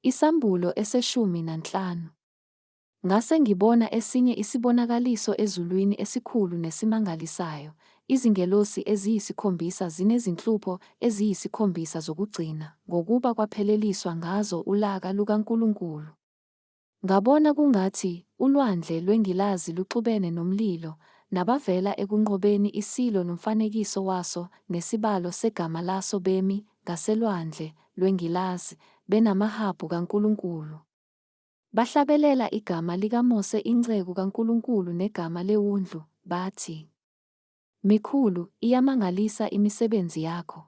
IsAmbulo eseshumi nanhlanu. Ngase ngibona esinye isibonakaliso ezulwini esikhulu nesimangalisayo, izingelosi eziyisikhombisa zinezinhlupho eziyisikhombisa zokugcina, ngokuba kwapheleliswa ngazo ulaka lukaNkulunkulu. Ngabona kungathi ulwandle lwengilazi luxubene nomlilo, nabavela ekunqobeni iSilo nomfanekiso waso nesibalo segama laso bemi ngaselwandle lwengilazi, benamahabhu kaNkulunkulu. Bahlabelela igama likaMose inceku kaNkulunkulu negama leWundlu, bathi, Mikhulu, iyamangalisa imisebenzi yakho,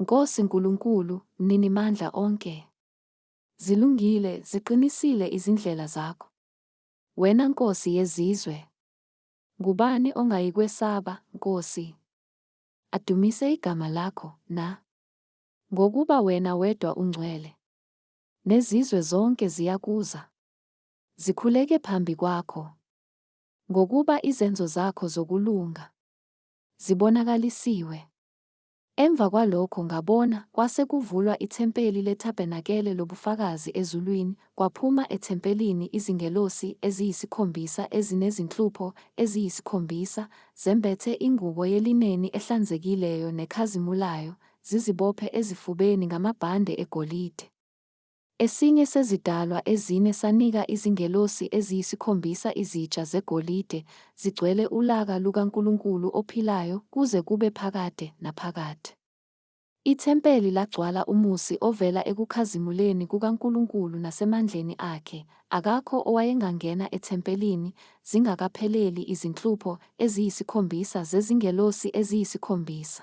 Nkosi Nkulunkulu, Mninimandla onke. Zilungile, ziqinisile izindlela zakho. Wena Nkosi yezizwe. Ngubani ongayikwesaba, Nkosi? Adumise igama lakho, na? Ngokuba wena wedwa ungcwele. Nezizwe zonke ziyakuza. Zikhuleke phambi kwakho. Ngokuba izenzo zakho zokulunga zibonakalisiwe. Emva kwalokho ngabona, kwase kuvulwa ithempeli lethabernakele lobufakazi ezulwini, kwaphuma ethempelini izingelosi eziyisikhombisa ezinezinhlupho eziyisikhombisa, zembethe ingubo yelineni ehlanzekileyo nekhazimulayo, zizibophe ezifubeni ngamabhande egolide. Esinye sezidalwa ezine sanika izingelosi eziyisikhombisa izitsha zegolide, zigcwele ulaka lukaNkulunkulu ophilayo kuze kube phakade naphakade. Ithempeli lagcwala umusi ovela ekukhazimuleni kukaNkulunkulu nasemandleni akhe, akakho owayengangena ethempelini zingakapheleli izinhlupho eziyisikhombisa zezingelosi eziyisikhombisa.